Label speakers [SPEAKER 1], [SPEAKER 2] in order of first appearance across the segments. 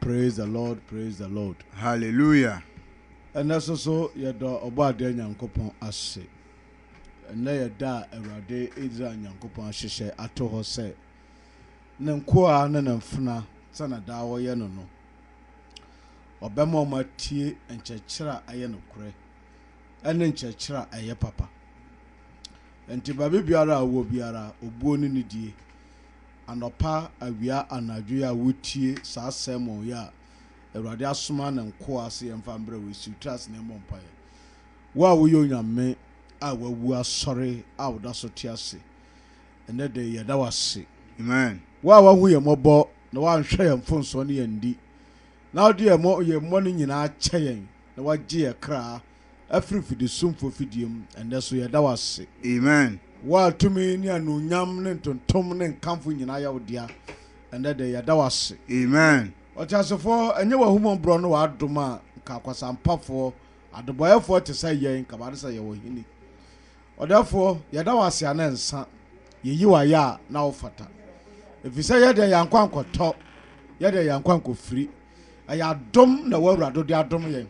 [SPEAKER 1] Praise the Lord praise the Lord. Hallelujah.
[SPEAKER 2] Ɛnɛ
[SPEAKER 1] so so yɛda Ɔbɔadeɛ Nyankopɔn ase. Ɛnnɛ yɛ da a Awurade Israel Nyankopɔn ahyehyɛ ato hɔ sɛ Ne nkoa ne Ne mfena sɛnea daa wɔyɛ no no, Ɔbɛma wɔn atie nkyerɛkyerɛ a ɛyɛ nokorɛ ɛne nkyerɛkyerɛ a ɛyɛ papa. Ɛnti baabi biara a wowɔ biara, obuo ne nidie, Anɔpa, awia, anadwo yi a wotie saa sermon yi a Awurade asoma ne nkoa se yɛmfa mbrɛ wo, esiw tiri ase na yɛmmɔ mpaeɛ. Wo a woyɛ Onyame a wawu asɔre a woda so te ase ɛnɛ da yi, yɛda wo ase. Amen. Wo a
[SPEAKER 2] woahu yɛn mmɔbɔ
[SPEAKER 1] na woanhwɛ yɛn mfomsoɔ ne yɛn nni, na wode yɛn mmɔne nyinaa akyɛ yɛn na woagye yɛn kra afiri fidisumfo fidie mu, ɛnnɛ so yɛda wo ase. Amen. Wo
[SPEAKER 2] a tumi
[SPEAKER 1] ne anuonyam ne ntontom ne nkamfo nyinaa yɛ wo dea, ɛnnɛ de yɛda wo ase. Amen.
[SPEAKER 2] Ɔteasefoɔ,
[SPEAKER 1] ɛnyɛ w'ahummɔborɔ ne w'adom a nka akwasampafoɔ, adebɔeɛfoɔ te sɛ yɛn nka bɛade sɛ yɛwɔ hene. Ɔdɛfoɔ, yɛda wo ase a na ɛnsa, yɛyi wo ayɛ a na wofata. Ɛfiri sɛ yɛn deɛ yɛankɔ ankɔtɔ, yɛn deɛ yɛankɔ ankɔfiri, Ɛyɛ adom na ɛwɔ awurado de adom yɛn.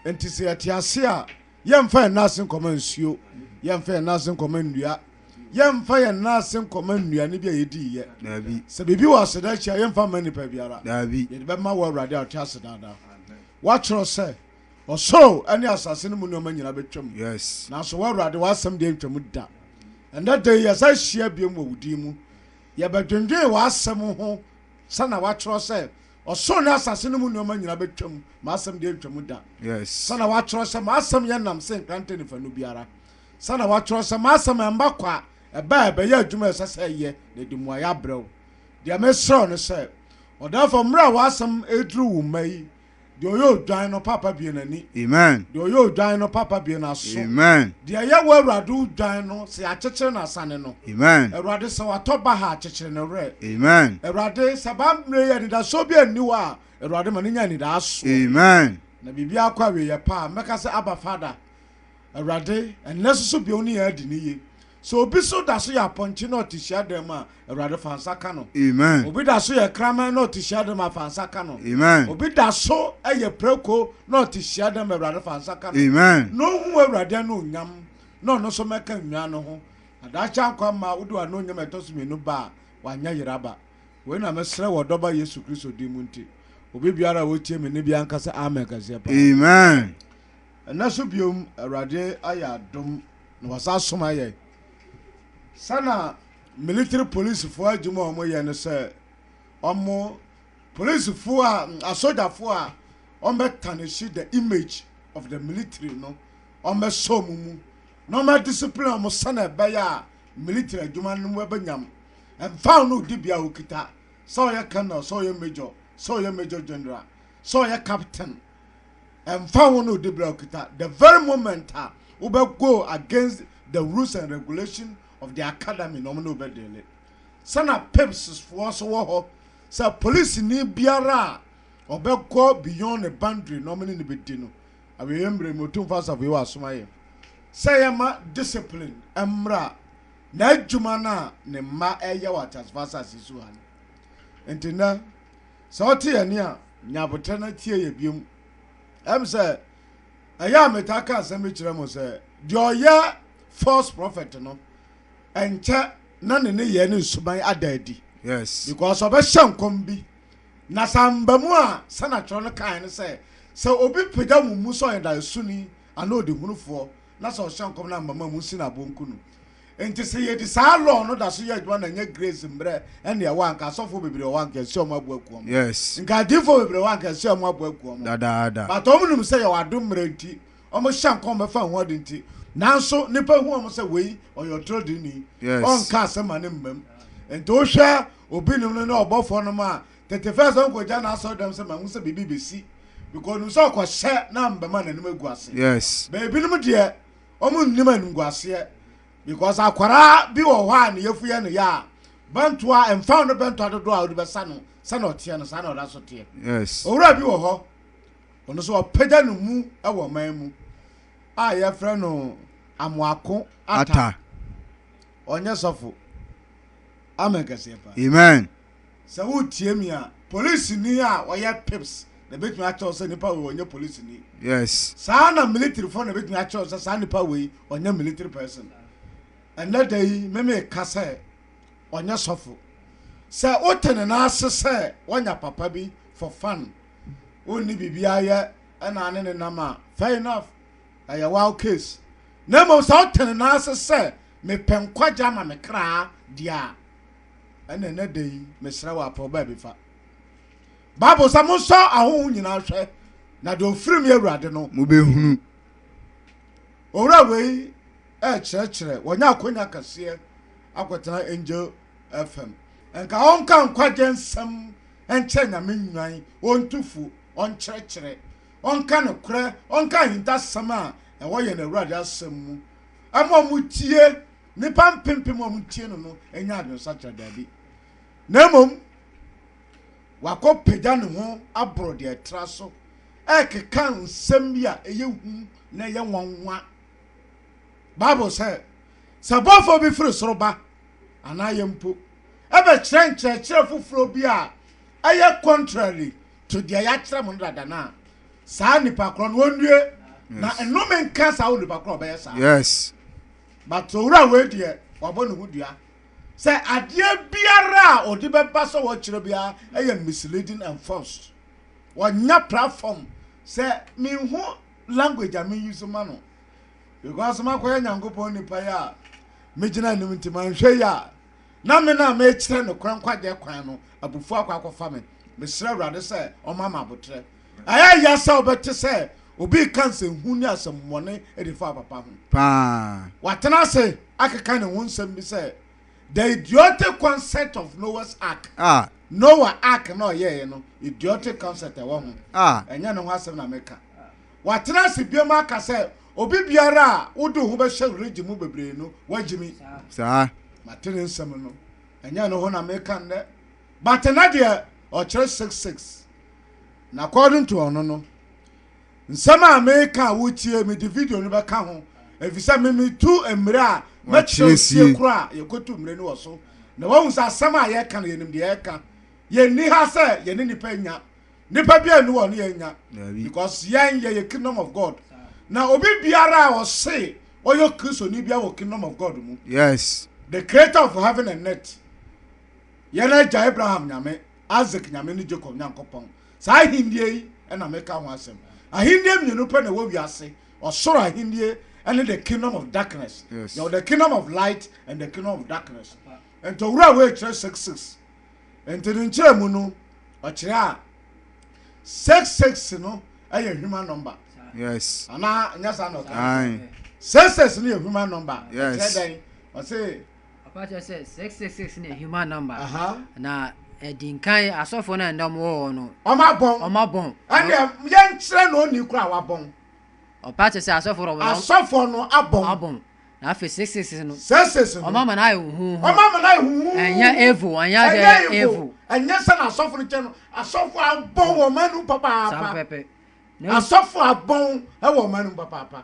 [SPEAKER 1] Nti sɛ yɛte ase a, yɛmfa yɛn nan ase nkɔma nsuo, yɛmfa yɛn nan ase nkɔma nnua, yɛmfa yɛn nan ase nkɔma nnuane bi a yɛdii yɛ. Daabi. Sɛ biribi wɔ
[SPEAKER 2] aseda
[SPEAKER 1] akyi a, yɛmfa mma nipa biara. Daabi. Yɛde bɛma wɔ
[SPEAKER 2] awurade a
[SPEAKER 1] ɔte ase daadaa. Woatwerɛ sɛ, Ɔsoro ne asase no mu nneɛma nyinaa bɛtwam. Yes. Nanso wɔ
[SPEAKER 2] awurade, w'asɛm
[SPEAKER 1] deɛ ntwam da. Ɛnnɛ da yi, yɛsan hyia biom wɔ wo din mu. Yɛbɛdwendwen w'asɛm ho. Sɛ na wɔatwerɛ sɛ, Ɔsoro ne asase no mu nnoɔma nyina bɛtwam, m'asɛm deɛ ɛntwa mu da. Sɛ na wɔatwerɛ
[SPEAKER 2] sɛ,
[SPEAKER 1] M'asɛm yɛ nam se nkrantɛ ne fanu biara. Sɛ na wɔatwerɛ sɛ, M'asɛm ɛmba kwa, ɛba a ɛbɛyɛ adwuma a ɛsɛ sɛ ɛyɛ, na ɛde mmuaeɛ abrɛ wo. Deɛ meserɛ wo ne sɛ, ɔdɛɛfoɔ, mmerɛ a w'asɛm reduru wo mma yi, Deɛ ɔyɛ odwan no papa bue n'ani. Amen. Deɛ ɔyɛ
[SPEAKER 2] odwan no papa
[SPEAKER 1] bue n'aso. Amen. Deɛ ɛyɛ wo
[SPEAKER 2] Awurade
[SPEAKER 1] odwan no sɛ yɛakyekyere n'asane no. Amen. Awurade sɛ
[SPEAKER 2] watɔ
[SPEAKER 1] baha a kyekyere ne werɛ. Amen. Awurade
[SPEAKER 2] sɛ baa
[SPEAKER 1] mmerɛ yi anidasoɔ bi anni hɔ a Awurade ma no nya anidaasoɔ. Amen. Na biribi
[SPEAKER 2] akɔ
[SPEAKER 1] awieɛ pa a mɛka sɛ Abba Father Awurade ɛnnɛ soso bio ne yɛn adi ne yie. Sɛ obi so da so yɛ apɔnkye na ɔte hyiadan mu a, Awurade fa nsa ka no. Amen. Obi da so yɛ
[SPEAKER 2] kraman
[SPEAKER 1] na ɔte hyiadan mu a, fa nsa ka no. Amen. Obi da so yɛ prako na ɔte hyiadan mu a, Awurade fa nsa ka no. Amen. Na ohu
[SPEAKER 2] Awurade
[SPEAKER 1] anuonyam na ɔno nso mmɛka nnwan no ho. Adaakye ankɔ amma wode w'anuonyam a ɛtɔ so mmienu ba a, wanyɛ yere aba. Wei na mesrɛ wɔ Ɔdɔba Yesu Kristo din mu nti. Obi biara a ɔretie me nne biara nka sɛ Amen kɛseɛ paa. Amen.
[SPEAKER 2] Ɛnnɛ nso
[SPEAKER 1] biom, Awurade ayɛ adom. na wɔsan soma yɛn sɛ na military policefoɔ adwuma a wɔyɛ no sɛ wɔn policefoɔ a asogyafoɔ a wɔbɛtanehye the image of the military no wɔbɛsɔ wɔn mu na wɔadiscipline wɔn sɛnea ɛbɛyɛ a military adwuma no bɛbɛnyam mfa no di bia wɔkita sɛ ɔyɛ colonel sɛ ɔyɛ major sɛ ɔyɛ major general sɛ ɔyɛ captain ɛmfa ho no dibere a okita, the very moment a wobɛ go against the rules and regulation of the academy na ɔmo ne wo bɛ deale. Sɛ na pips foɔ nso wɔ hɔ, sɛ polisini biara a ɔbɛ go beyond ne boundary na ɔmo ne no bɛ di no. Awieɛ mmere mu Otumfoɔ Asafo Yehowa asoma yɛn sɛ yɛ ma discipline ɛmmra n'adwuma no a ne mma ɛɛyɛ wɔ ateasefo asase so ha no. Nti nnɛ. Sɛ ɔte yɛn nne a, nya aboterɛ na tie yɛn biom. Ɛm sɛ, ɛyɛ a metaa ka asɛm bi kyerɛ mo sɛ, deɛ ɔyɛ false prophet no, ɛnkyɛ na ne nneyɛɛ ne nsuban ada adi. Yes. Because
[SPEAKER 2] ɔbɛhyɛ nkɔm
[SPEAKER 1] bi, na sɛ amba mu a, sɛnea atwerɛ no kaeɛ ne sɛ, sɛ obi pagya mo mu sɛ ɔyɛ daesoni anaa ɔdehunufoɔ, na sɛ ɔhyɛ nkɔm na amba mu a, monsi no aboɔ nku no. Enti sɛ yɛdi saa law no da so yɛ adwuma na ɛnyɛ grace mmerɛ ɛnneɛ ɛwɔ a nka asɔfoɔ bebree wɔhɔ a nka ɛsɛ ɔmo aboa kuo mo. Yes. Nka adiifoɔ
[SPEAKER 2] bebree wɔhɔ a
[SPEAKER 1] nka ɛsɛ ɔmo aboa kuo mo. Dadaada. But ɔmo
[SPEAKER 2] nim sɛ yɛwɔ
[SPEAKER 1] adom mmerɛ nti ɔmo hyɛ nkɔm bɛfa ɛho ade nti. Nanso nnipa hu ɔmo sɛ wei ɔyɛ ɔtredini. Yes. Ɔnka asɛm ma ne mma mu. Enti wohwɛ obi nom no ne ɔbɔfoɔ nom a, tete first ɔnkɔgya n'asɔre dɛm sɛ mahu sɛ biribi bɛsi because onim sɛ ɔkɔhyɛ na ɔmbɛma n'anim agu ase. Yes. But ebinom
[SPEAKER 2] deɛ
[SPEAKER 1] ɔmo nnim animguaseɛ because akwaraa bi wɔ hɔ a ne yɛfuyɛ no yɛ a bɛntoa ɛmfa no bɛntoa dodoɔ a wode bɛsa no sɛna ɔteɛ no saa na ɔda so teɛ yes owura bi wɔ
[SPEAKER 2] hɔ
[SPEAKER 1] ɔno so ɔpagya no mu wɔ ɔman mu a yɛfrɛ no amoako ata ɔnyɛ sɔfo amen kɛseɛ pa amen
[SPEAKER 2] Sɛ woretie
[SPEAKER 1] me a, polisini a ɔyɛ pips na ebetumi akyerɛ wo sɛ nipa wei ɔnyɛ polisini. Yes. Saa ara
[SPEAKER 2] na militaryfoɔ
[SPEAKER 1] na ebetumi akyerɛ wo sɛ saa nipa wei ɔnyɛ military person. Ɛnnɛ da yi meme ka sɛ ɔnyɛ sɔfo. Sɛ wote ne nan ase sɛ wanya papa bi for fun, wonni biribi ayɛ ɛna ane ne nam a, fair enough, ɛyɛ wild case. Na mmom sɛ wote ne nan ase sɛ mepɛ nkwagye ama me kra deɛ a, Ɛna ɛnɛ da yi mesrɛ wɔ apɛ ɔbaa bi fa. Bible sɛ monsɔ ahoho nyinaa hwɛ na deɛ ɔfiri mu yɛ awurade no. Mobɛhunu. Owura wei ɛrekyerɛkyerɛ wɔnyɛ akonya kɛseɛ akɔtena Angel FM. Nka ɔnka nkwagye nsɛm nkyerɛ nyame nnwan ɔntu fu ɔnkyerɛkyerɛ ɔnka ne korɛ ɔnka ahintasɛm a ɛwɔ yɛn awurade asɛm mu ɛma ɔmo tie Nnipa mpempem a wɔtie no no anya adwensakyera? Dabi, na mmom wakɔpagya ne ho aboro deɛ ɛtra so rekeka nsɛm bi a ɛyɛ hu na ɛyɛ nwanwa. Bible sɛ, Sɛ bɔfoɔ bi firi soro ba, anaa yɛn mpo, ɛbɛkyerɛ nkyerɛkyerɛ foforɔ bi a ɛyɛ contrary to deɛ yɛakyerɛ mo no dada no a, saa nnipa korɔ no, ɔnnue, na nnome nka saa onipa korɔ a ɔbɛyɛ saa. Yes.
[SPEAKER 2] But
[SPEAKER 1] owura wei deɛ wabɔ ne ho dua sɛ adeɛ biara a ɔde bɛba sɛ ɔkyerɛ biara ɛyɛ misleading and false. Ɔnya platform sɛ menhu language a me use ma no because makɔyɛ Nyankopɔn nipa yi a megyina anim nti manhwɛ yie a na me no a mekyerɛ nokorɛ nkwagyeɛ kwan no abufuo akɔ akɔfa me. Mesrɛ Awurade sɛ ɔmma me aboterɛ. Ɛyɛ ya sɛ wobɛte sɛ obi reka nsɛnhunu ne asɛmmɔne de fa papa ho. Paa. Watena
[SPEAKER 2] ase
[SPEAKER 1] akeka ne ho nsɛm bi sɛ, The idiotic concept of Noah's Ark. Ah. Noa Ark no a ɔyɛeɛ no, idiotic concept ɛwɔ ho. Ah. Ɛnyɛ ne ho asɛm na meka. Watena ase biom aka sɛ, Obi biara a wode wo ho bɛhyɛ religion mu bebree no, woagyimi. Saa.
[SPEAKER 2] Mate ne nsɛm
[SPEAKER 1] no. Ɛnyɛ ne ho na meka nnɛ. But ɛnɛ deɛ ɔkyerɛ six six na according to ɔno no nsɛm a meka a wotie mede video no bɛka ho efisɛ me metu mmire a mɛkyerɛ otie koro a yɛkɔtu mmire no wɔ so na wahu sɛ asɛm a yɛka no yɛnim deɛ yɛka yɛnni ha sɛ yɛne nipa nya nipa bi a ɛni wɔ ne yɛnya because yɛn yɛyɛ kingdom of God na obi biara a ɔse ɔyɛ kristoni bia wɔ kingdom of God mu yes the
[SPEAKER 2] creator of
[SPEAKER 1] heaven and earth yɛn agya Abraham Nyame, Isak Nyame ne Jacob Nyankopɔn. Saa ahennie yi na meka ho asɛm. Ahennie mmienu pɛ na ɛwɔ wiase, ɔsoro ahennie ne the kingdom of darkness. Yes. Yɛwɔ the kingdom of light and the kingdom of darkness. Nti owura wei kyerɛ six six. Nti ne nkyerɛmu no, ɔkyerɛ a six six no ɛyɛ human number. Yes. Anaa
[SPEAKER 2] nyɛ saa na
[SPEAKER 1] ɔka. Aye.
[SPEAKER 2] Six six no yɛ
[SPEAKER 1] human number. Yes. Ɛkyerɛ
[SPEAKER 2] dɛn? Ɔse
[SPEAKER 1] Papa kyerɛ sɛ
[SPEAKER 3] six six six ne human number. Na
[SPEAKER 1] ɛdi nkan
[SPEAKER 3] asɔfo na ɛnna wɔn wɔ no. Wɔn abɔn. Wɔn abɔn.
[SPEAKER 1] Ɛnna yɛn kyerɛ na ɔni kura wabɔn. Ɔpa kyerɛ sɛ
[SPEAKER 3] asɔfo wɔn. Asɔfo no abɔn.
[SPEAKER 1] Abɔn. Na afei six six
[SPEAKER 3] no. Six six no. Wɔn ama na ayɛ
[SPEAKER 1] huhu. Wɔn
[SPEAKER 3] ama na ayɛ huhu. Ɛnyɛ
[SPEAKER 1] evo. Ɛnyɛ sɛ
[SPEAKER 3] ɛnyɛ evo. Ɛnyɛ sɛ na asɔfo
[SPEAKER 1] no kyɛ no. Asɔfo abɔn wɔn anum papaapa. Saa pɛpɛ.
[SPEAKER 3] Asɔfo
[SPEAKER 1] abɔn ɛwɔ wɔn anum papaapa.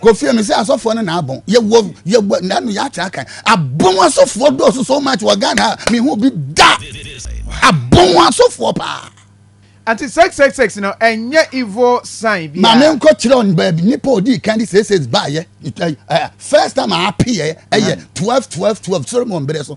[SPEAKER 4] Kofie mi sɛ asɔfoɔ no na abɔn yɛwɔ yɛwɔ nanu yɛakyerɛ akan abɔn asɔfoɔ dɔɔso so much wɔ Ghana ha mi hu bi da abɔn asɔfoɔ paa. Ati
[SPEAKER 5] sexsexsex no
[SPEAKER 4] ɛnyɛ evil sign bia. Maame
[SPEAKER 5] nkɔ
[SPEAKER 4] kyerɛ ɔn
[SPEAKER 5] baabi
[SPEAKER 4] nipa ɔdii kan de sexsex
[SPEAKER 5] baayɛ
[SPEAKER 4] first time a apeyɛ ɛyɛ twelve twelve twelve sori mu ɔn berɛ so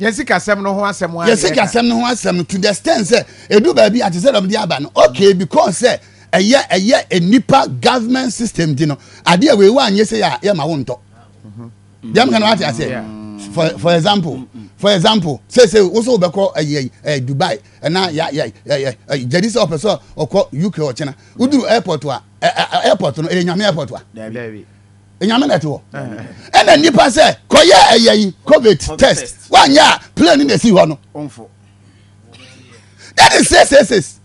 [SPEAKER 4] yɛn
[SPEAKER 5] sikasɛm no ho asɛm yɛn sikasɛm no ho asɛm
[SPEAKER 4] to the extent sɛ edu baabi ate sɛ dɔm de aba no okay because sɛ ɛyɛ ɛyɛ nipa government system di no adeɛ wei wa nye sɛ yɛ ma wo ntɔ deɛ mo kan wa te aseɛ for for example for example sɛ sɛ woso wobɛkɔ ɛyɛ ɛyɛ dubai ɛna yɛ yɛ ɛyɛ ɛyɛ gyadi sɛ ɔpɛ sɛ ɔkɔ uk ɔkyɛnɛ woduru airport a ɛɛ airport no ɛyɛ nyame airport a. enyame na ɛte hɔ ɛna nipa sɛ kɔyɛ ɛyɛ yi covid test wanyɛ a plane na esi hɔ no that is six six six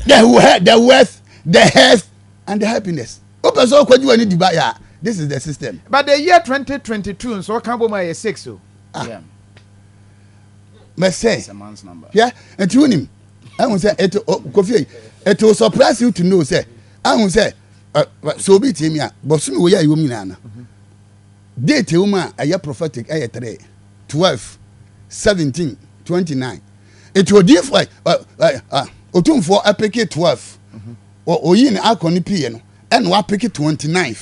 [SPEAKER 4] the wealth the wealth the health and the happiness o pɛ sɛ ɔkɔ juwa ni diba ya this is the system. but the year twenty
[SPEAKER 5] twenty two nso ɔka bɔ mu ayɛ six o.
[SPEAKER 6] Ah.
[SPEAKER 4] mɛsɛ yɛ
[SPEAKER 6] nti wunim
[SPEAKER 4] ɛhun sɛ eto kofi eto surprise you to know sɛ ɛhun sɛ. sɛ obi tie me a bɔsome wei a ɛwom nyinaa no mhm. date ɛwɔ mu a ɛyɛ prophetic ɛyɛ three twelve seventeen twenty nine eti odiifo ɛ ɛ ɛ otumfoɔ apeke twelve mhm. oyi ne akɔ ne pii no ɛna wapeke twenty nine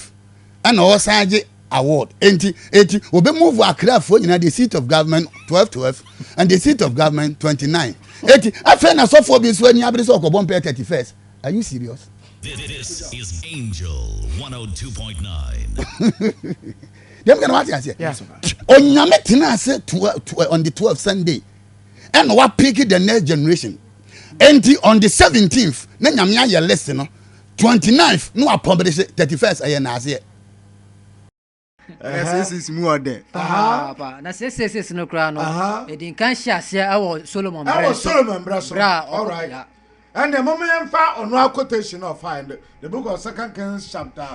[SPEAKER 4] ɛna ɔsan gye award eti eti obe move akrafoɔ nyinaa the seat of government twelve twelve and the seat of government twenty nine eti afei na sɔfoɔ bi nso ɛni abiri sɛ ɔkɔ bɔ mpɛ thirty first are you serious. This is
[SPEAKER 7] Angel 102.9.
[SPEAKER 4] Dem kana wati ase. Onyame
[SPEAKER 5] tena
[SPEAKER 4] ase on the 12th Sunday. And wa pick the next generation. Enti on the 17th na nyame ayɛ list no. 29th no apɔmde se 31st ayɛ na ase. na
[SPEAKER 2] seesees mu ɔdɛ paapa na
[SPEAKER 3] seesees no koraa no ɛdi nkan hyɛ aseɛ ɛwɔ solomon berɛ ɛwɔ solomon berɛ
[SPEAKER 1] so berɛ alright ɛnna mo
[SPEAKER 3] yɛn
[SPEAKER 1] fa ɔno akotation of find the book of second kings chapter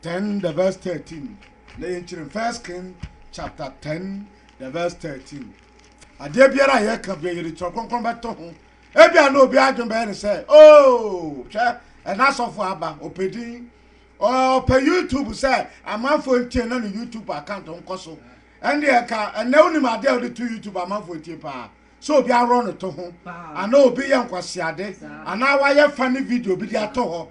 [SPEAKER 1] ten the verse thirteen na yɛn kyerɛ first king chapter ten the verse thirteen adeɛ biara a yɛka bia yɛde twerɛ kronkron bɛto ho ebia na obi adwene bɛyɛ ne sɛ oo oh, hwɛ ɛna asɔfo aba ɔpɛdin Ɔpɛ YouTube sɛ amanfoɔ ntie na ne YouTube account nkɔ so. Ɛndeɛ nka ɛnɛ wonim adeɛ a wode to YouTube amanfoɔ tie paa? Sɛ obi aworɔ ne to ho, anaa obi yɛ nkwaseade, anaa wayɛ funny video bi de ato hɔ.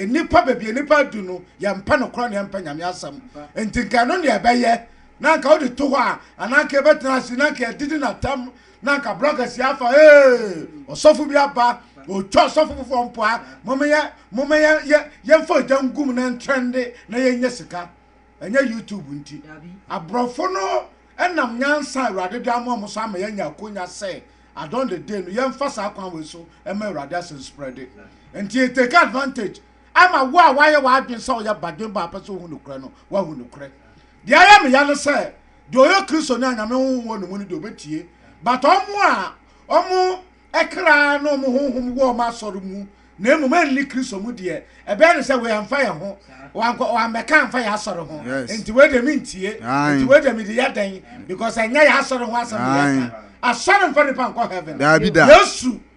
[SPEAKER 1] Nnipa baabi a nnipa adu no, yɛmpɛ nokorɛ na yɛmpɛ Nyame asɛm. Nti nka ɛno na yɛbɛyɛ, na nka wode to hɔ a, anaa nka yɛbɛtena ase, na nka yɛadidi no atɛm. na nka bra kɛseɛ afa ee ɔsɔfo bi aba ɔtwa ɔsɔfo foforɔ mpoa momeyɛ momeyɛ yɛmfa ogya ngum na ntrɛnde na yɛnyɛ sika ɛnyɛ youtube nti aborɔfo no ɛnam nyansa awurade de ama ɔmo so ama yɛanya akonya sɛ adɔn de de no yɛmfa saa kwan wei so ɛma awurade asɛm spreade nti yɛ take advantage ama wo a woayɛ w'adwen sɛ woyɛ badwen ba apɛ sɛ wohu nokorɛ no woahu nokorɛ deɛ ayɛ meya no sɛ Deɛ ɔyɛ Kristoni a Nyame Honhom wɔ ne mu no deɛ ɔbɛtie, but ɔmo a ɔmo kra ne ɔmo honhom wɔ ɔmo asɔre mu na mmom ɛnni Kristo mu deɛ, ɛbɛyɛ no sɛ wei ɛmfa yɛn ho, wankɔ, wammɛka amfa yɛn asɔre ho, Yes. nti wei deɛ mentie, Aye. nti wei deɛ mede yɛ dɛn, because ɛnyɛ yɛn asɔre ho asɛm na Aye. yɛka. Asɔre mfa nipa nkɔ heaven. Daabi da. Yesu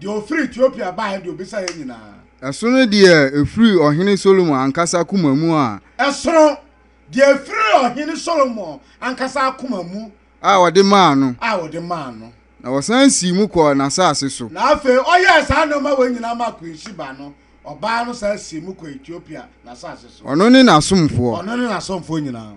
[SPEAKER 1] Deɛ ɔfiri Etiopia baeɛ deɛ ɔbisa yɛn nyinaa. Ɛsono deɛ
[SPEAKER 2] ɛfiri ɔhene Solomon ankasa koma mu a. Ɛsono
[SPEAKER 1] deɛ ɛfiri ɔhene Solomon ankasa akoma mu. A ɔde maa
[SPEAKER 2] no. A ɔde maa no. Na
[SPEAKER 1] ɔsan sii mu
[SPEAKER 2] kɔɔ n'asase so. Na afei ɔyɛɛ
[SPEAKER 1] saa nneɛma wei nyinaa maa Queen Sheba no, ɔbaa no san sii mu kɔɔ Etiopia n'asase so. Ɔno ne n'asomfoɔ.
[SPEAKER 2] Ɔno ne n'asomfoɔ nyinaa.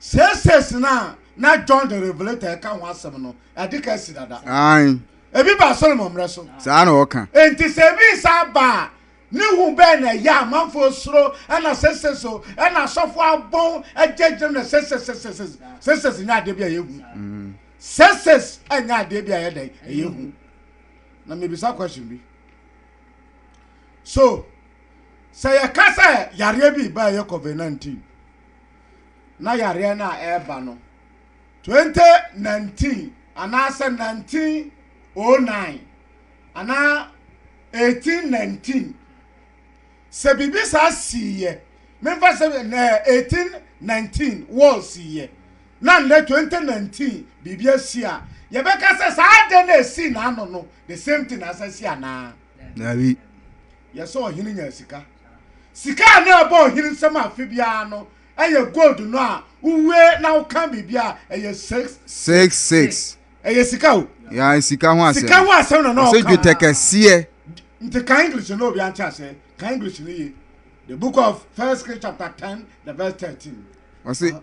[SPEAKER 1] Seesei no a na John the Revelator reka ho asɛm no, ade ka asi dada. Ae. Ebi
[SPEAKER 2] baa Solomon
[SPEAKER 1] mmerɛ so. Saa na ɔka. Enti
[SPEAKER 2] sɛ ebi san
[SPEAKER 1] ba a, ne hu bɛn na ɛyɛ a manfoɔ suro, ɛna seesei so, ɛna asɔfoɔ abɔn agyinagyinam na seesei, seesei, seesei, seesei nyɛ adeɛ bi a ɛyɛ hu. Seesei nyɛ adeɛ bi a ɛyɛ dɛn, ɛyɛ hu. Na mebisa question bi. So, sɛ yɛka sɛ yareɛ bi ba a ɛyɛ COVID-19, na yareɛ no a ɛreba no, 2019 anaasɛ 1909 anaa 1819, sɛ biribi saa siiɛ, memfa sɛ 1819 wɔl siiɛ, na nnɛ 2019 biribi asi a, yɛbɛka sɛ saa adeɛ no a ɛsii n'ano no, the same thing na asa si anaa? Daabi.
[SPEAKER 2] Yɛ sɛ
[SPEAKER 1] ɔhene nyaa sika. Sika a na ɛbɔ ɔhene nsam afe biara no yɛ gold no a wohue na wokan biribi a ɛyɛ six. Six six.
[SPEAKER 2] Ɛyɛ sika
[SPEAKER 1] o. Ya sika ho asɛm.
[SPEAKER 2] Sika ho asɛm na na ɔka. Ɔsɛ dwetɛ
[SPEAKER 1] kɛseɛ.
[SPEAKER 2] Nti kan
[SPEAKER 1] English no obi ante ase. Kan English no ye. The book of First Kings chapter ten the verse thirteen. Ɔsɛ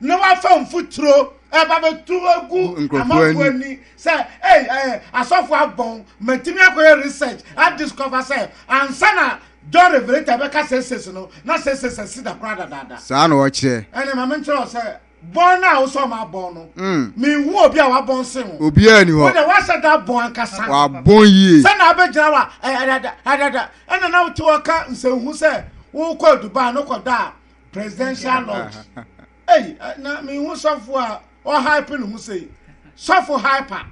[SPEAKER 1] na wafa mfuturo ɛba eh, bɛtu agu amanfoɔ ani sɛ ei ɛɛ asɔfo abɔn mɛtumi akɔyɛ research a discover sɛ ansa na john revelator bɛka sɛsɛsi no na sɛsɛsi asi da koraa dadaada saa na ɔkyerɛ
[SPEAKER 2] ɛne ma menkyerɛ sɛ
[SPEAKER 1] bɔn no a wosɛ ɔma abɔn no mm. menhu obi a wabɔn se ho obiaa ni hɔ wode woasɛ
[SPEAKER 2] da
[SPEAKER 1] abɔn ankasa wabɔn yie sɛ
[SPEAKER 2] na abɛgyina wa
[SPEAKER 1] ɛdada ɛdada ɛna na wote wɔka nsɛnhu sɛ wokɔ dubai no kɔda a presidential lodge ei na mehu sɔfo a ɔhype ne ho sei sɔfo hyper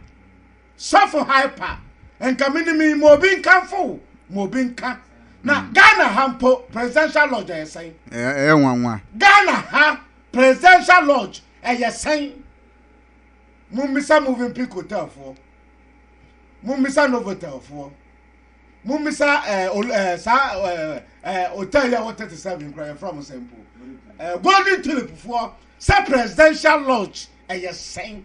[SPEAKER 1] sɔfo hyper nka menim ma obi nkamfo ma obi nka na hmm. ghana ha mpo presidential lodge ɛyɛ sɛn ɛyɛ nwanwa
[SPEAKER 2] ghana ha
[SPEAKER 1] presidential lodge ɛyɛ sɛn mummisa moving pick hotelfoɔ mummisa novotelfoɔ mommisa eh, ol, eh, saa eh, eh, hotel yi a wɔ 37 kora yɛfrɛ mo sɛ mpo eh, golden tulip foɔ sɛ presidential lodge ɛyɛ sɛn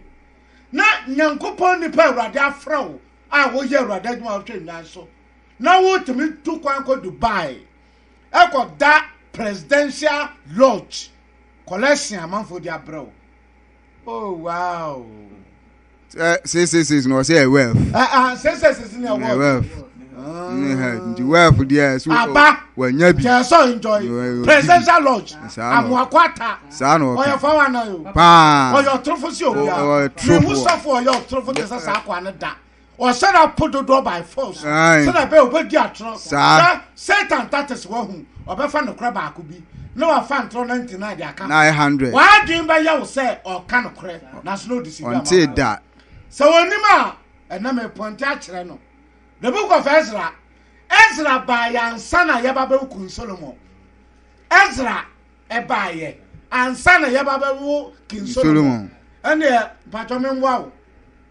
[SPEAKER 1] na nyankopɔn nipa awurade afrɛ wo a woyɛ awurade adwuma a wohwɛ nnwan so na wotumi tu kwan kɔ dubai ɛkɔda presidential lodge collection amanfoɔ de abrɛ wo Oh wow. Eh,
[SPEAKER 2] six six six na ɔsɛ yɛ wɛf. Ah ah six six
[SPEAKER 1] six na wɛf. wɛf.
[SPEAKER 2] ne head nti wɛf deɛ so aba wanya bi. kyɛ sɔ enjoy
[SPEAKER 1] presidential lodge amuakwata saa na ɔka ɔyɛ
[SPEAKER 2] fawa na yo
[SPEAKER 1] paa ɔyɛ ɔtorofo
[SPEAKER 2] si
[SPEAKER 1] obia ɔyɛ torofo mi hu sɔfo
[SPEAKER 2] ɔyɛ
[SPEAKER 1] ɔtorofo te sɛ saa akwa ne da. ɔsɛ na po dodoɔ by force sɛdeɛ bɛyɛ ɔbɛdi atorɔ na satan tatis wahu ɔbɛfa nokorɛ baako bi na wafa ntorɔ 99 de aka ho waadwen
[SPEAKER 2] bɛyɛ wo
[SPEAKER 1] sɛ ɔka nokorɛ nanso na ɔde si bi ama
[SPEAKER 2] sɛ wɔnim a
[SPEAKER 1] ɛnam ɛpɔnte akyerɛ no the book of Ezra Ezra baayɛ ansa na yɛba bɛwo kun Solomon Ezra ɛbaayɛ ansa na yɛba bɛwo king Solomon ɛneɛ mpatwɔ memboa wo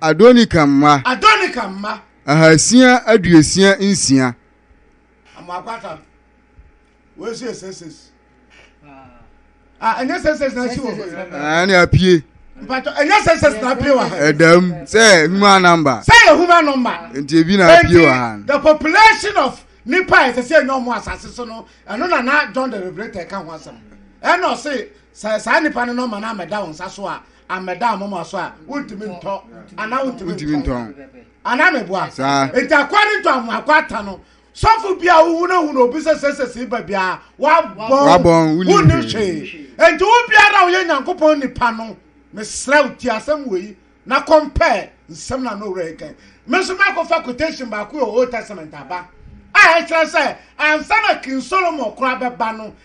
[SPEAKER 2] Adonikam mma. Adonikam mma. Ahasia aduosia nsia. Amo
[SPEAKER 1] akwatam. Wei nso yɛ sɛsɛs. Ah, ɛnyɛ sɛsɛs na asi wɔ hɔ. Ah, ɛna apue.
[SPEAKER 2] Mpatɔ, ɛnyɛ
[SPEAKER 1] sɛsɛs na apue wɔ ha. Ɛdam sɛ
[SPEAKER 2] human number. Sɛ yɛ human number.
[SPEAKER 1] Nti ebi na apue wɔ
[SPEAKER 2] ha. The population of
[SPEAKER 1] nipa a ɛsɛ sɛ ɛnyɛ ɔmo asase so no, ɛno na na John the Revelator ka ho asɛm. Ɛna ɔse, sɛ saa nipa no nɔma no amɛda wɔn nsa so a, Ammɛda amoma so a, wontumi ntɔ anaa wontumi Wontumi ntɔn. ntɔn. Anaa meboa? Saa. Enti akoa no ntɔ amoa akoa ata no. Sɔfo bi a wohunahuna obi sɛ sɛsɛsii ba biara, wabɔn. Wabɔn, wonnim Wonnim hwee. hwee. Enti wo biara a woyɛ Nyankopɔn nipa no, mesrɛ wo, tie asɛm wei yi, na compare nsɛm no a na Owura yi kae. Me nso makɔfa quotation baako wɔ Old Testament aba a ɛkyerɛ sɛ ansa na King Solomon koraa bɛba no,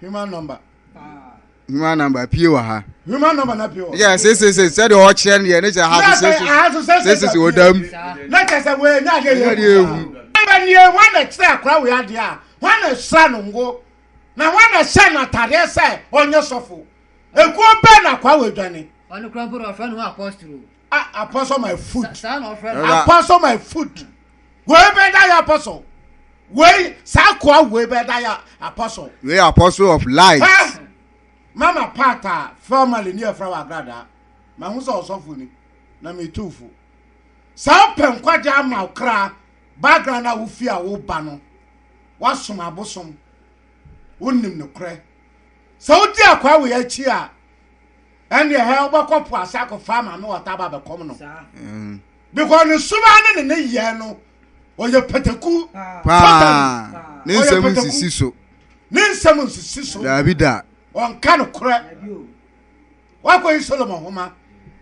[SPEAKER 1] human number human
[SPEAKER 2] number pie wɔ ha human number na pie
[SPEAKER 1] wɔ yɛ sesese sɛdeɛ
[SPEAKER 2] ɔkyerɛ no yɛ ne kyerɛ ha so sesese wɔ dam na kyerɛ sɛ wɔyɛ
[SPEAKER 1] nya adeɛ yɛ adeɛ ehu ɛbɛ nie wɔn na kyerɛ akora wɔ adeɛ a wɔn na sra no ngo na wɔn na hyɛ no atadeɛ sɛ ɔnyɛ sɔfo ekuo bɛn na akora wɔ adwane ɔno kura mpo na wɔfrɛ no
[SPEAKER 3] ho apostolo Ah, apostle my
[SPEAKER 1] food. Apostle
[SPEAKER 3] my food.
[SPEAKER 1] Wei bɛ da ya apostle. Wei saa koa wei bɛ da ya apostle. Wei apostle of
[SPEAKER 2] light. Huh? Mama
[SPEAKER 1] pata family ni efra wa grada. Ma hu sɛ ɔsɔfo ni na me tu fo. Saa pɛ nkwagye ama okra background a wofi a wo ba no. Wasom abosom. Wonim no korɛ. Sɛ wodi akwaa wei akyi a ɛnneɛ hɛ wobɛkɔ po ase akɔfa maame wɔta aba bɛkɔm no because ne suban ne ne ne yɛ no ɔyɛ pataku paa
[SPEAKER 2] ne nsɛm nsisi so ne nsɛm
[SPEAKER 1] nsisi so daabi da
[SPEAKER 2] ɔnka no korɛ
[SPEAKER 1] wakɔyi solomon homa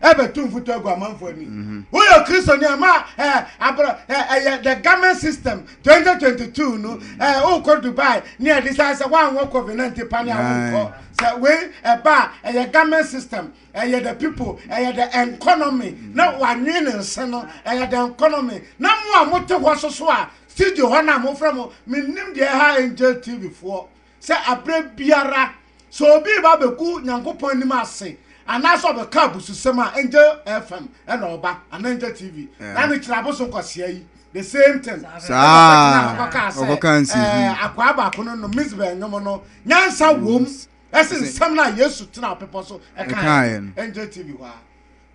[SPEAKER 1] ɛbɛtu mfoto agu amanfo ani mhm. woyɛ kristoni ama ɛyɛ the government system Twenty twenty two no ɛɛ eh, wokɔ Dubai ne ɛde saa sɛ woanwɔ covid nineteen pa ne a wonkɔ sɛ wei ɛba a ɛyɛ government system ɛyɛ the people ɛyɛ the economy na wanwe ne nse no ɛyɛ the economy na mo a mote hɔ soso a studio hɔ no a mofrɛ mo menim deɛ ɛha angel tv foɔ Sɛ aberɛ biara sɛ obi reba abɛgu Nyankopɔn anim ase anaasɛ ɔbɛka abususɛm a, Angel FM na ɔba anaa Angel TV. Na ne kyerɛ abosom kwasea yi, the same thing. Saa Ɛna ɔbɛtena a, ɔkɔkaa sɛ, ɔkɔkaa nsi ɛɛ, hi. akwaa baako no nom Mizbeh nnwom no, nyansa wom ɛsen Ɛsen- nsɛm no a Yesu tenaa bepɔ so ɛkaeɛ Ɛkaeɛ no. no. Angel TV hɔ a.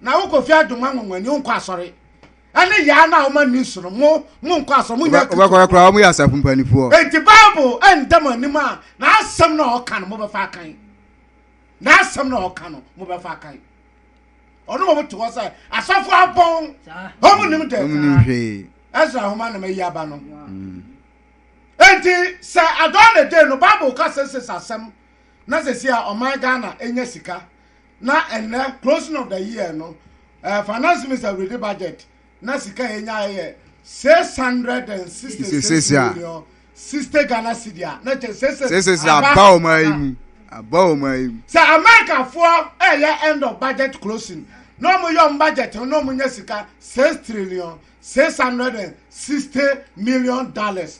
[SPEAKER 1] Na wokɔ fie adwom anwanwani, wonkɔ asɔre. ɛne yaa no a wɔn ani nso no mo mo nkɔ asɔ mo nya wobɛkɔrɛ koraa wɔn yɛ asafo
[SPEAKER 2] mpanimfoɔ enti bible
[SPEAKER 1] ɛnda mo anim a n'asɛm na ɔka no mobɛfa akan n'asɛm na ɔka no mobɛfa akan ɔno wɔn te hɔ sɛ asafo abɔn wɔn nim dɛ wɔn nim hwee ɛsra ahoma na mayi aba no mm. enti sɛ adɔn na de no bible ka sɛ sɛ asɛm na sɛ si a ɔman ghana enya sika na ɛnɛ closing of the year no uh, finance minister ready budget na sika yɛ nya yɛ six hundred and sixty six million sixty ghana cedi a na kyɛ six six six aba wɔn ayi mu
[SPEAKER 2] aba wɔn ayi mu. sɛ
[SPEAKER 1] amerikafoɔ ɛyɛ eh, end of budget closing na wɔn yɛ wɔn budget na wɔn nya sika six trillion six hundred and sixty million dollars.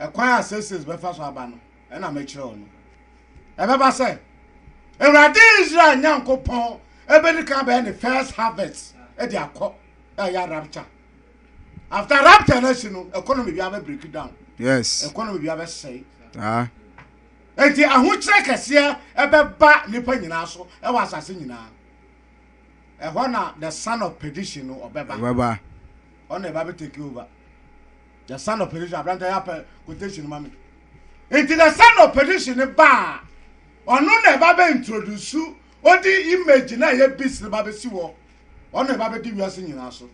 [SPEAKER 1] Ɛkwan a Seesei bɛfa so aba no, ɛna mɛkyerɛ wo no. Ɛbɛba sɛ, Awurade Israel Nyankopɔn bɛdi kan bɛyɛ ne first harvest de akɔ, ɛyɛ rapture. After rapture no akyi no, economy bi abɛ break down. Yes. Economy bi
[SPEAKER 2] abɛsɛe.
[SPEAKER 1] Ah.
[SPEAKER 2] Enti
[SPEAKER 1] ahokyerɛ kɛseɛ ɛbɛba nipa nyinaa so ɛwɔ asase nyinaa. Ɛhɔ na the son of perdition no ɔbɛba. Ɔbɛba.
[SPEAKER 2] Ɔna ɛba
[SPEAKER 1] bɛ take over. The son of perdition abranta yɛ apɛ quotation ma me nti the son of perdition ne ba a ɔno na ɛba bɛ introduce odi image na ɛyɛ beast ne ba bɛ si wɔ ɔno ɛba bɛ di wiase nyinaa so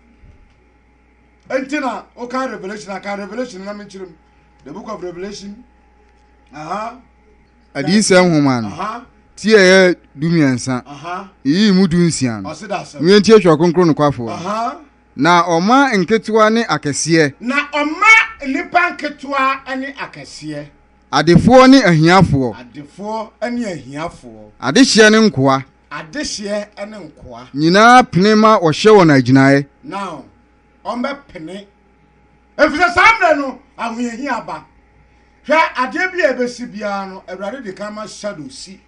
[SPEAKER 1] nti na ɔka revelation aka revelation na menkyerɛ mu the book of revelation aha
[SPEAKER 2] adiyisɛ nhoma no aha ti a ɛyɛ du mmiɛnsa aha yiyii mu du nsia no ɔse da asɛm wientie twerɛ kronkron nokwafoɔ aha Na ɔma nketewa ne akɛseɛ. Na ɔma
[SPEAKER 1] nnipa nketewa ne akɛseɛ. Adefoɔ ne
[SPEAKER 2] ahiafoɔ. Adefoɔ ne ahiafoɔ. Adehyeɛ ne nkoa. Adehyeɛ ne nkoa. Nyinaa pene ma wɔhyɛ wɔn agyinaeɛ. Na
[SPEAKER 1] wɔbɛpene. Efisɛ saa mmerɛ no, ahohiahia ba. Hwɛ, adeɛ bi a ɛbɛsi biara no, Awurade de kan ma Shadow si.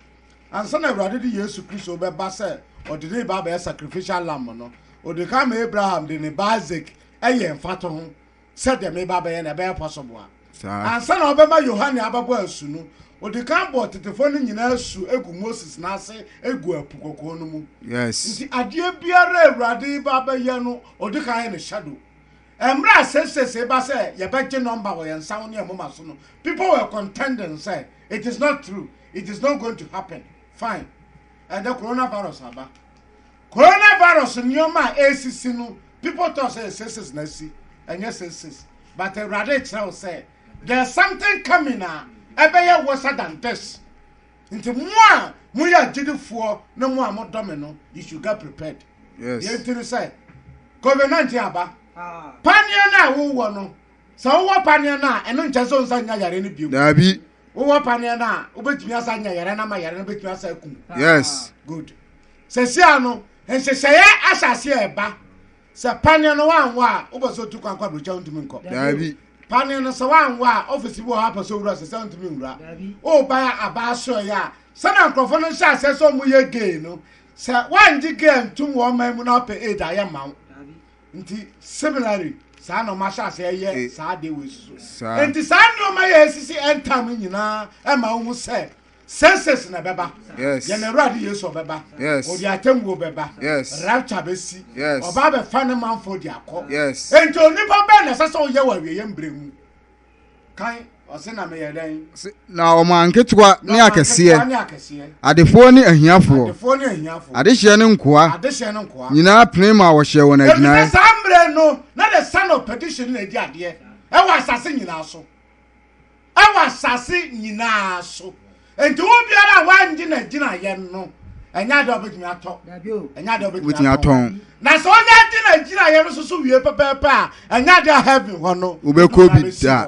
[SPEAKER 1] Ansa na Awurade de Yesu Kristo rebɛba sɛ ɔde ne ba bɛyɛ sacrificial lamb no, ɔde kan ma Abraham de ne ba Isaac yɛ mfatoho sɛ deɛ meba bɛyɛ no, ɛbɛyɛ pɔsoboa. Ansa na ɔbɛma Yohane abɛbɔ asu no, ɔde kan bɔɔ tetefoɔ no nyinaa asu gu Moses nan ase gu Apu Kɔkɔɔ no mu. Nti adeɛ
[SPEAKER 2] biara a
[SPEAKER 1] Awurade reba abɛyɛ no, ɔde kan yɛ ne shadow. Mmerɛ a seesei ba sɛ yɛbɛgye nɔmba wɔ yɛn nsa ho ne yɛn moma so no, people were contending sɛ, It is not true, it is not going to happen, fine, ɛnde coronavirus aba. Coronavirus nneɛma a ɛresisi no, people thought sɛ seesei na asi, ɛnyɛ seesei. But Awurade rekyerɛ wo sɛ, there is something coming a ɛbɛyɛ worser than this. Nti mo a moyɛ agyidifoɔ ne mo a modɔ me no, you should get prepared. Yes. Deɛ nti no
[SPEAKER 2] sɛ,
[SPEAKER 1] COVID-19 aba. Ah. Paneɛ no a wowɔ no, sɛ wowɔ paneɛ no a, ɛno nkyɛ sɛ wonsa nya yare no biom. Daabi. Wowɔ
[SPEAKER 2] paneɛ
[SPEAKER 1] no a, wobɛtumi asa nya yare no ama yare no bɛtumi asa akum. Yes. Good. Sɛsia no, nhyehyɛeɛ asase a ɛba. Sɛ paneɛ no wanwɔ a, wopɛ sɛ otu kwan kɔ aburokyi a wontumi nkɔ. Daabi. Paneɛ
[SPEAKER 2] no sɛ
[SPEAKER 1] wanwɔ a, ɔfisi bi wɔ hɔ apɛ sɛ owura sɛ sɛ wontumi nwura. Wobae a abaa soɛe a, sɛnea nkurɔfoɔ no hyɛ aseɛ sɛ wɔyɛ gay no, sɛ woangye gay antum wɔn man mu na wopɛ aid a, yɛmma wo. Nti similarly, saa na wɔahyɛ aseɛ yɛ saa adeɛ wei soso. Nti saa nneɛma yɛ asisi ɛntam nyinaa ɛma wohu sɛ Census na ɛbɛba. Yes. Yɛn Awurade
[SPEAKER 2] Yesu
[SPEAKER 1] ɔbɛba. Yes. Ɔde atemmuo
[SPEAKER 2] bɛba.
[SPEAKER 1] Yes. Rapture
[SPEAKER 2] bɛsi.
[SPEAKER 1] Yes. Ɔba abɛfa ne
[SPEAKER 2] manfoɔ
[SPEAKER 1] de akɔ. Yes. Enti onipa
[SPEAKER 2] bɛn na
[SPEAKER 1] ɛsɛ sɛ ɔyɛ wɔ awieeɛ mbrɛ mu? Kan ɔse na meyɛ dɛn? Se- Na wɔn anketewa
[SPEAKER 2] ne Na akɛseɛ, nketewa ne akɛseɛ, adefoɔ ne ahiafoɔ, adefoɔ ne ahiafoɔ, adehyeɛ ne nkoa adehyeɛ ne nkoa. nyinaa pene ma wɔhyɛɛ wɔn Efisɛ agyinaeɛ. saa mmerɛ no
[SPEAKER 1] na the son of perdition na edi adeɛ ɛwɔ asase nyinaa so. wɔ asase nyinaa so. Nti wo biara a wangye na gyina yɛn no, ɛnyɛ ade a wobɛtumi atɔ. Ɛnyɛ ade a wobɛtumi atɔn. Na sɛ ɔnyɛ agye na gyina yɛn no so so wie pɛpɛɛpɛ a, ɛnyɛ ade a heaven hɔ no. Wobɛkɔ bi da.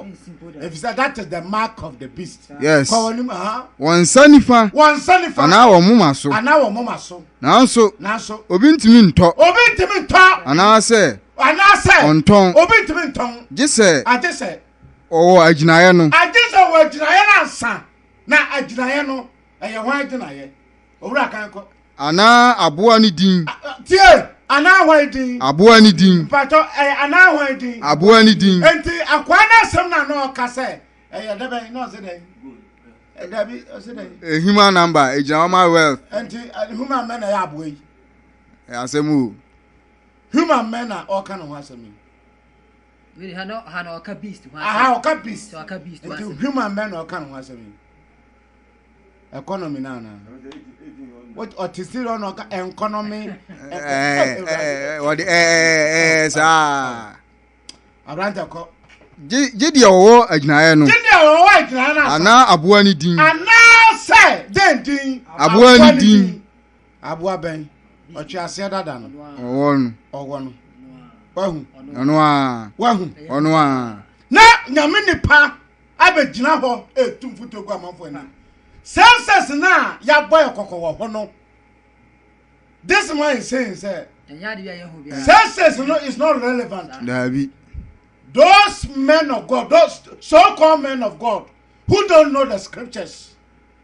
[SPEAKER 2] Efisɛ that
[SPEAKER 1] is the mark of the beast. Yes. Kɔ wɔn anim
[SPEAKER 2] ha. Wɔn nsa
[SPEAKER 1] nifa. Wɔn
[SPEAKER 2] nsa nifa. Anaa wɔn
[SPEAKER 1] moma so. Anaa
[SPEAKER 2] wɔn moma so. Nanso. Nanso. Obi ntumi ntɔ. Obi ntumi ntɔ. Anaasɛ. Anaasɛ. Ɔntɔn. Obi ntumi ntɔn.
[SPEAKER 1] Gye sɛ. Agye
[SPEAKER 2] sɛ.
[SPEAKER 1] ɔwɔ agyinaeɛ no.
[SPEAKER 2] Agye
[SPEAKER 1] sɛ ɔwɔ agyinaeɛ no
[SPEAKER 2] ansa.
[SPEAKER 1] Na agyinaeɛ no, ɛyɛ hwan agyinaeɛ? Owura kan kɔ. Anaa aboa
[SPEAKER 2] ne din. Tie,
[SPEAKER 1] anaa hwan din? Aboa ne din. Mpakyɛ,
[SPEAKER 2] ɛyɛ anaa
[SPEAKER 1] hwan din? Aboa ne din. Enti
[SPEAKER 2] akwaa no
[SPEAKER 1] asɛm na na ɔka sɛ ɛyɛ dɛ bɛn na ɔse dɛn? Dabi, ɔse dɛn? Eh, human number, ɛgyina
[SPEAKER 2] hɔ ma wealth. Enti human
[SPEAKER 1] mɛ na ɛyɛ aboa yi. Ɛyɛ asɛm
[SPEAKER 2] o. Human
[SPEAKER 1] mɛ na ɔka ne ho asɛm yi.
[SPEAKER 3] ha na ha na ɔka beast ho asɛm aha ɔka beast so
[SPEAKER 1] ɔka beast ho asɛm nti
[SPEAKER 3] human bɛn na ɔka
[SPEAKER 1] ne ho asɛm yi economy na ana ɔte si rɔ na ɔka economy
[SPEAKER 2] ɔde ɛɛ saa
[SPEAKER 1] aberante kɔ gye deɛ
[SPEAKER 2] ɔwɔ agyinaeɛ no gye deɛ ɔwɔ agyinaeɛ no anaa aboa ne din anaa sɛ
[SPEAKER 1] dɛn din aboa ne din
[SPEAKER 2] Aboa bɛn?
[SPEAKER 1] Ɔtweaseɛ dada no. Ɔwɔ no. Ɔwɔ no. Wahu. Ɔno a. Wahu. Ɔno a. Na nyame nipa abɛgyina hɔ ɛtu mfoto gu amanfo anim. Senses no a yɛabɔ yɛ kɔkɔ wɔ hɔ no. This man is saying sɛ. Senses no is not relevant. Daabi.
[SPEAKER 2] Those
[SPEAKER 1] men of God, those so-called men of God who don't know the scriptures.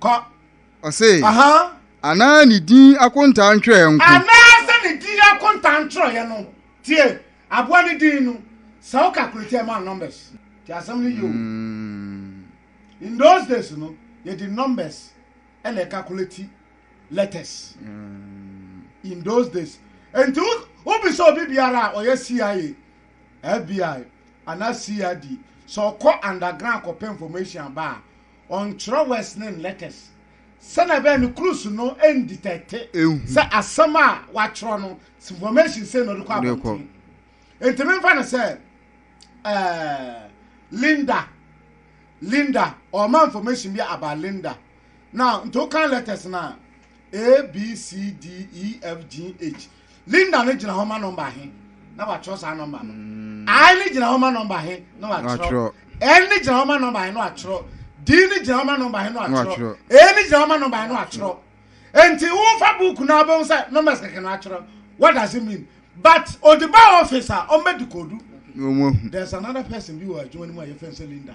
[SPEAKER 2] Kɔ. Ɔse, Aha. Anaa ne din akontaa ntwerɛeɛ nko. Anaa sɛ ne din
[SPEAKER 1] akontaa ntwerɛeɛ no. Tie, aboa no din no, sɛ wo calculate ɛma wo numbers. Nti asɛm no yie o. In those days no, yɛde numbers ɛna ɛcalculate letters. In those days. Nti wobisa obi biara a ɔyɛ CIA, FBI, anaa CID, sɛ ɔkɔ underground kɔpɛ information aba a, ɔnkyerɛw wɛs ne nlɛtɛs sɛnea ɛbɛyɛ no krus no nditɛte sɛ asɛm a wakyerɛw no sinfɔmɛsyin sei na ɔde kɔ abɔnten. Nti memfa no sɛ ɛɛ Linda Linda ɔma information bi aba Linda na nti wokan lɛtɛs no a A B C D E F G H Linda no gyina hɔ ma nɔmba he, na wɔatwerɛ saa nɔmba no. I no gyina hɔ ma nɔmba he, na wɔatwerɛ. N no gyina hɔ ma nɔmba he, na wɔatwerɛ. D no gyina hɔ ma nɔmba he, na wɔatwerɛ. E no gyina hɔ ma nɔmba he, na wɔatwerɛ. Enti wofa buuku no a, wobɛhu sɛ nɔmbas kɛkɛ na wɔatwerɛ. What does it mean? But ɔde ba ɔfis a, ɔmmɛdikoodu. There's another person bi wɔ adwuma no mu a yɛfrɛ no sɛ Linda.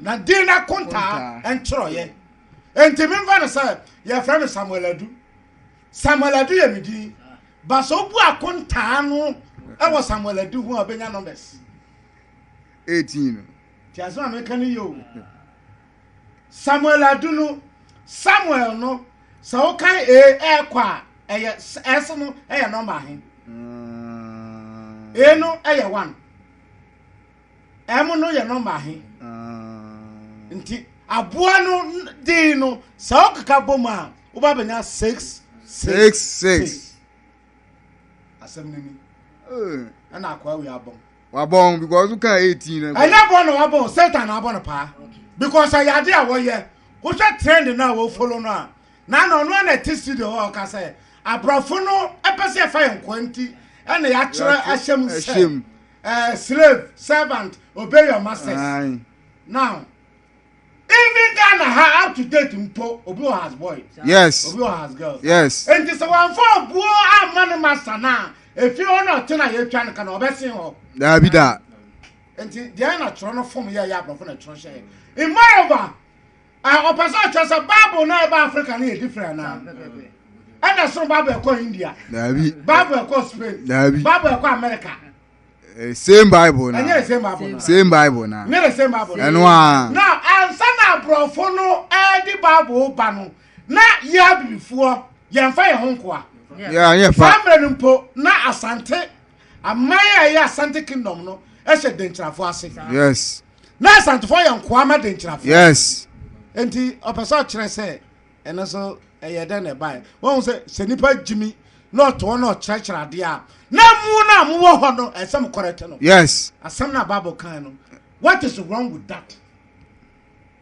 [SPEAKER 1] Na din no akontaa nkyerɛeɛ. Enti memfa no sɛ yɛfrɛ me Samuel Adu. Samuel Adu yɛ me din. Ba sɛ wobu akontaa no wɔ Samuel Adu ho a wobɛnya numbers.
[SPEAKER 2] 18 no. Ti asɛm
[SPEAKER 1] a meka no yɛ o. Samuel Adu no, Samuel no, sɛ wokan e ɛkɔ a, ɛyɛ ɛse no ɛyɛ nɔmba he. E no ɛyɛ one. Ɛmo no yɛ nɔma he. Ah. Nti aboa no din no sɛ wokeka bɔ mu a woba bɛnya six six six. Asɛm no ni. Eh. Ɛna akoa wei abɔn. Wabɔn because
[SPEAKER 2] woka eighteen na. Ɛnyɛ bɔn na wabɔn
[SPEAKER 1] satan na abɔ no paa because ɛyɛ ade a wɔyɛ wohwɛ trend na wɔfolo no a na na ɔno na ɛte studio hɔ ɔka sɛ aborɔfo no ɛpɛ sɛ ɛfa yɛn kwan ti ɛna yɛakyerɛ ahyɛm sɛ. Uh, slave, servant, obey your masters. Aye. Now, even Ghana ha up to date mpo obi wɔ has boy. Yes. Obi wɔ has
[SPEAKER 2] girl.
[SPEAKER 1] Yes. Nti sɛ wɔn
[SPEAKER 2] fɔ
[SPEAKER 1] buo ama ne master na efi hɔ na ɔte na yɛtwa no ka na ɔbɛsen hɔ. Daabi da.
[SPEAKER 2] Nti
[SPEAKER 1] deɛ na twerɛ no fom yɛ yɛ aborɔfo na twerɛ hyɛ. Mmarima. a ɔpɛ sɛ ɔkyerɛ sɛ bible no a ɛba africa no yɛ different anaa ɛna soro bible ɛkɔ india daabi bible
[SPEAKER 2] ɛkɔ spain
[SPEAKER 1] daabi bible ɛkɔ
[SPEAKER 2] america
[SPEAKER 1] eh, same
[SPEAKER 2] bible na ɛnyɛ same bible na same
[SPEAKER 1] bible na ɛnyɛ
[SPEAKER 2] same bible na
[SPEAKER 1] ɛno a na ansa na aborɔfo no ɛde bible ba no na yɛ abirifoɔ yɛmfa yɛn ho nkoa yɛanyɛ fa saa
[SPEAKER 2] mmerɛ no mpo na
[SPEAKER 1] asante aman a ɛyɛ asante kingdom no ɛhyɛ denkyerafo ase yes na
[SPEAKER 2] asantefo
[SPEAKER 1] yɛ nkoa ma denkyerafo yes
[SPEAKER 2] nti ɔpɛ
[SPEAKER 1] sɛ ɔkyerɛ sɛ ɛno so ɛyɛ dɛn na ɛbaeɛ wɔhu sɛ sɛ nipa gyimi na ɔtoɔ na ɔkyerɛkyerɛ adeɛ a na mu no a mowɔ hɔ no ɛsɛ mo kɔrɛte no yes asɛm no a
[SPEAKER 2] bible kan
[SPEAKER 1] no what is wrong with that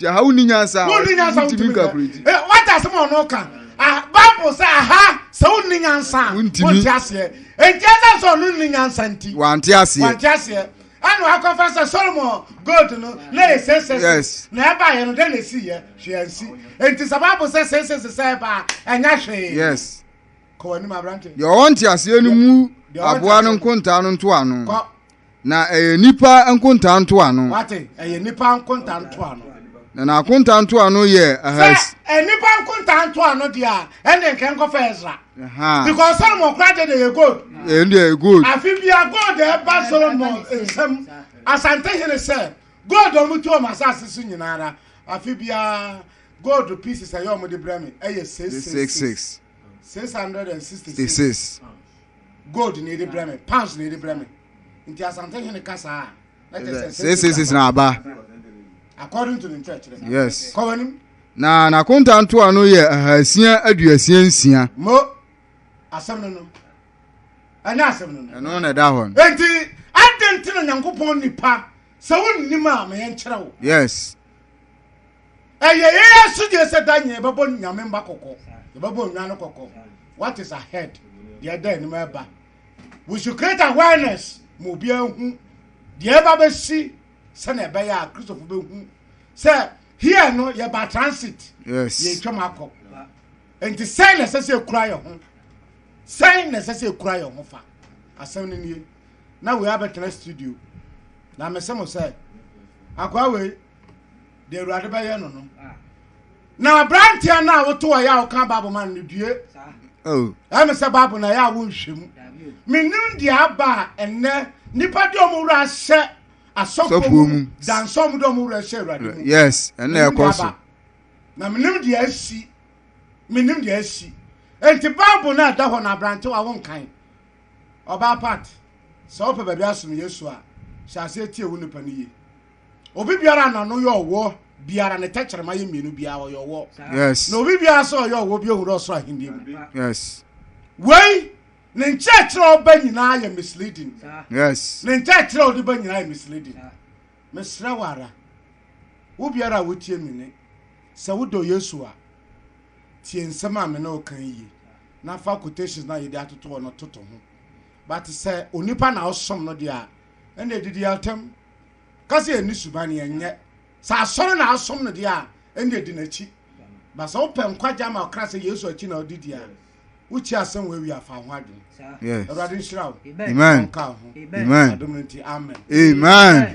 [SPEAKER 2] wonni nyansa wonni nyansa wontumi nka akorɛdi
[SPEAKER 1] wate asɛm a ɔno ka bible sɛ aha sɛ wonni nyansa wonte aseɛ enti ɛsɛ sɛ ɔno nni nyansa nti wante aseɛ wante
[SPEAKER 2] aseɛ ɛna
[SPEAKER 1] wakɔfa sɛ solomon gold no na yɛ sɛsɛs na ɛbaeɛ no dɛn na ɛsiiɛ hwee ansi enti sɛ bible sɛ sɛsɛs sɛ ɛbaa ɛnyɛ hwee yes
[SPEAKER 2] kɔwɔ anim
[SPEAKER 1] aberante deɛ ɔwɔ nte aseɛ no
[SPEAKER 2] mu aboa no nkontaa no ntoa no Na ɛyɛ nnipa nkontaa ntoano. Wate, ɛyɛ nnipa
[SPEAKER 1] nkontaa ntoano. Na n'akontaa
[SPEAKER 2] ntoano yɛ ahas. Sɛ nnipa
[SPEAKER 1] nkontaa ntoano deɛ a, ɛnde nka nkɔfa Ezra. Because Solomon kora deɛ deɛ yɛ gold. Ɛyɛ deɛ yɛ gold.
[SPEAKER 2] Afi bia gold
[SPEAKER 1] ɛba Solomon nsam asante hene sɛ gold a wɔtu wɔn asase so nyinaa ara afi bia gold pieces ɛyɛ wɔn de brɛ me ɛyɛ six six six six hundred and sixty six. gold na ɛde brɛ me pounds na ɛde brɛ me nti asante hene ka saa a na kyɛ sɛ six
[SPEAKER 2] six six na aba according
[SPEAKER 1] to ne nkyerɛkyerɛ yes kɔ w'anim
[SPEAKER 2] na
[SPEAKER 1] n'akonta
[SPEAKER 2] ntoa no yɛ ahasia aduasia nsia mo
[SPEAKER 1] asɛm no no ɛnyɛ asɛm no no ɛno na ɛda hɔ no enti
[SPEAKER 2] adɛn
[SPEAKER 1] nti na nyankopɔn nipa sɛ wonnim a ma yɛnkyerɛ wo yes
[SPEAKER 2] ɛyɛ yɛn
[SPEAKER 1] asodie sɛ da nyɛ yɛbɛbɔ nyame mma kɔkɔ yɛbɛbɔ nnwa no kɔkɔ what is ahead deɛ ɛda anim ɛba we should create awareness ma obiara hu deɛ ɛba bɛsi sɛnea ɛbɛyɛ a kristofo bɛhu sɛ here no yɛba transit yɛtwam
[SPEAKER 2] akɔ
[SPEAKER 1] nti sɛn na ɛsɛ sɛ ɛkura yɛ ho sɛn na ɛsɛ sɛ ɛkura yɛ ho fa asɛm no nie na wei abɛtena studio na mese mo sɛ akwaa wei deɛ awurade bɛyɛ no no na aberanteɛ no a woto ɔyɛ a woka bible ma no no due oh.
[SPEAKER 2] ɛme sɛ bible
[SPEAKER 1] na ɛyɛ a wonhwɛ mu menim deɛ aba a ɛnnɛ nnipa de ɔmo wura ahyɛ asɔfoɔ mu dansɛ ɔmo de ɔmo wura ahyɛ awurade mu yes ɛnna ɛkɔ
[SPEAKER 2] so na menim
[SPEAKER 1] deɛ asi menim deɛ asi enti bible no a ɛda hɔ no aberantewa wonkan Ɔbaa Pat, sɛ wopɛ baabi asom Yesu a, hyɛ aseɛ tie wo nipa no yie. Obi biara a n'ano yɛ ɔwɔ biara ne tɛkyerɛma yɛ mmienu biara ɔyɛ ɔwɔ. Yes. Na obi biara
[SPEAKER 2] sɛ ɔyɛ
[SPEAKER 1] ɔwɔ bi ohun ɔsoro ahenni mu. Yes.
[SPEAKER 2] Wei
[SPEAKER 1] ne nkyerɛkyerɛ a ɔba nyinaa yɛ misleading. Yes. Ne
[SPEAKER 2] nkyerɛkyerɛ a ɔde
[SPEAKER 1] ba nyinaa yɛ misleading. Mesrɛ wo ara, wo biara a wotie me ne, sɛ wodɔ Yesu a, tie nsɛm a me ne wo kan yie. na fa quotations na yɛde atoto hɔ no toto ho but sɛ onipa na ɔsom no deɛ a ɛna ɛdidi atam ka sɛ yɛni suban yɛnyɛ sɛ asɔre na asom no deɛ a ɛna ɛdi n'akyi ba sɛ wopɛ nkwagya ma ɔkra sɛ yesu akyi na ɔde di a wokyi asɛm wɔ awi afa ho adwene awurade nhyira wo nka ho
[SPEAKER 2] adom no
[SPEAKER 1] nti amen amen